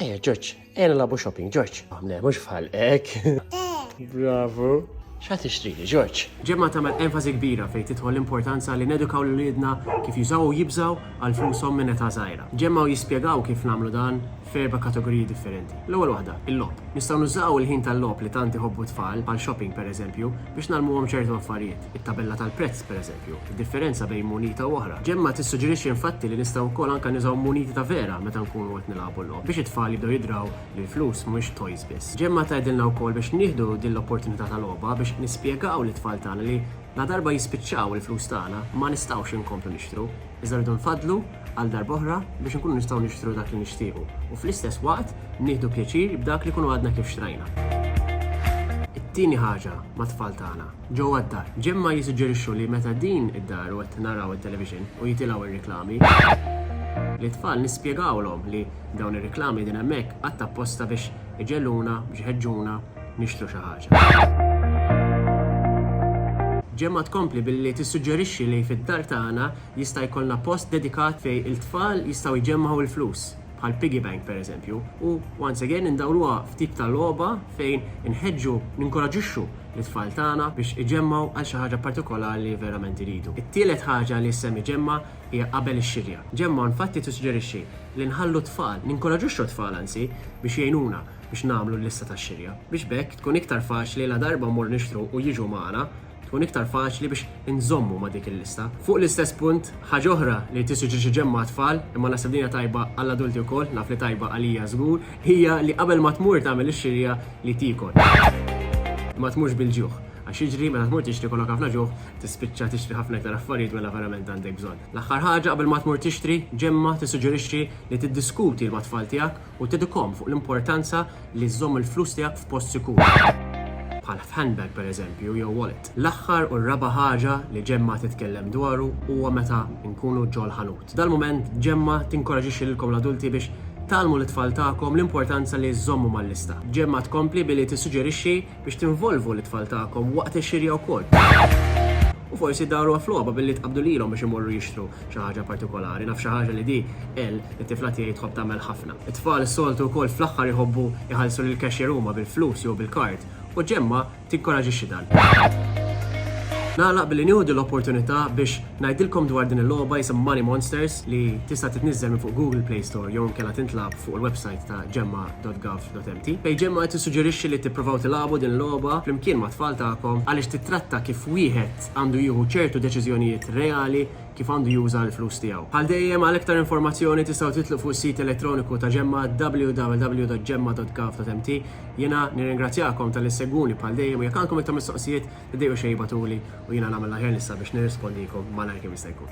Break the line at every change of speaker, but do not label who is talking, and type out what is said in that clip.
Eh, George, ejna labu shopping, George. Għamle, mux bħalek. Bravo. Xa tixtri li, George? Ġemma tagħmel enfasi
kbira fejn tidħol l-importanza li nedukaw l lidna kif jużaw u jibżaw għal flushom minn età żgħira. Ġemma u jispjegaw kif nagħmlu dan f'erba' kategoriji differenti. L-ewwel waħda, il-lob. Nistgħu nużaw il-ħin tal-lob li tant iħobbu tfal bħal shopping pereżempju biex nalmuhom ċertu affarijiet. it-tabella tal-prezz, pereżempju, id-differenza bejn munita u oħra. Gemma tissuġġerixxi infatti li nistgħu wkoll anke nużaw muniti ta' vera meta nkunu qed nilagħbu l-logħob biex it-tfal jibdew jidraw li l-flus mhumiex toys biss. Gemma tgħidilna wkoll biex nieħdu din l-opportunità ta' logħba biex nispjegaw lit-tfal tagħna li ladarba jispiċċaw il-flus tagħna ma nistgħux inkomplu nixtru, iżda rridu nfaddlu għal darb'oħra biex inkunu nistgħu nixtru dak li nixtiequ u fl-istess waqt nieħdu pjaċir b'dak li jkunu għadna kif xtrajna. It-tieni ħaġa mat-tfal tagħna. ġewwa d-dar. Ġemma jissuġġerixxu li meta din id-dar u qed naraw it-televixin u jitilgħu r-riklami, lit-tfal nispjegawlhom li dawn ir-riklami qegħdin hemmhekk għadd apposta biex iġegħluna, biex iħeġġuna nixtru xi ħaġa. Ġemma tkompli billi tissuġġerixxi li fid-dar tagħna jista' jkollna post dedikat fejn il-tfal jistgħu jġemmgħu l-flus. bħal piggy bank pereżempju, u once again indawruha f'tip ta' logħba fejn inħeġġu, ninkoraġixxu lit-tfal tagħna biex iġemmgħu għal xi ħaġa partikolari li verament iridu. It-tielet ħaġa li ssemmi Ġemma hija qabel ix-xirja. Ġemma infatti tissuġġerixxi li nħallu t-tfal, ninkoraġixxu t-tfal anzi, biex jgħinuna biex nagħmlu l-lista tax-xirja, biex b'hekk tkun iktar faċli ladarba mmorru nixtru u jiġu magħna, tkun iktar faċli biex inżommu ma' dik il-lista. Fuq l-istess punt, ħaġa oħra li rrid isir ġiex iġemma' għat-tfal, imma naħseb din hija tajba għall-adulti wkoll, naf li tajba għalija żgur, hija li qabel ma tmur tagħmel ix-xirja li tiekol. Ma tmurx bil-ġuħ, għax jiġri meta tmur tixtri jkollok ħafna ġuħ, tispiċċa tixtri ħafna iktar affarijiet mela verament għandek bżonn. L-aħħar ħaġa qabel ma tmur tixtri, ġemma' tissuġġerixxi li tiddiskuti ma' tfal tiegħek u tedikhom fuq l-importanza li żżomm il-flus tiegħek f'post sikur, bħal f'handbag pereżempju jew wallet. L-aħħar u r-raba' ħaġa li Ġemma titkellem dwaru huwa meta nkunu ġol-ħanut. F'dal-mument, Ġemma tinkoraġixxi lilkom l-adulti biex tgħallmu lit-tfal tagħkom l-importanza li żżommu mal-lista. Ġemma tkompli billi tissuġġerixxi biex tinvolvu lit-tfal tagħkom waqt ix-xirja wkoll. U forsi ddaruha f'logħba billi tqabbdu lilhom biex imorru jixtru xi ħaġa partikolari. Naf xi ħaġa li di, Elle, it-tifla tiegħi tħobb tagħmel ħafna. It-tfal soltu wkoll fl-aħħar iħobbu jħallsu lill-cashier huma bil-flus jew bil-kard, u Ġemma tinkoraġixxi dan. Nagħlaq billi nieħu din l-opportunità biex ngħidilkom dwar din il-logħba jisimha Money Monsters li tista' titniżżel minn fuq Google Play Store jew inkella tintlagħab fuq il-websajt ta' Ġemma dot Gov l-utenti. Pejġemma qed tissuġġerixxi li tippruvaw tilagħbu din il-logħba flimkien mat-tfal tagħkom għaliex tittratta kif wieħed għandu jieħu ċertu deċiżjonijiet reali kif għandu juża l-flus tiegħu. Bħal dejjem għal iktar informazzjoni tistgħu titlu fuq is-sit elettroniku ta' Ġemma www.gemma.gov.mt. Jiena nirringrazzjakom talli ssegwuni bħal dejjem u jekk għandkom iktar mistoqsijiet tiddejqux xejn ibatuli u jiena nagħmel l-aħjar nista' biex nirrispondikom malajr kemm jista' jkun.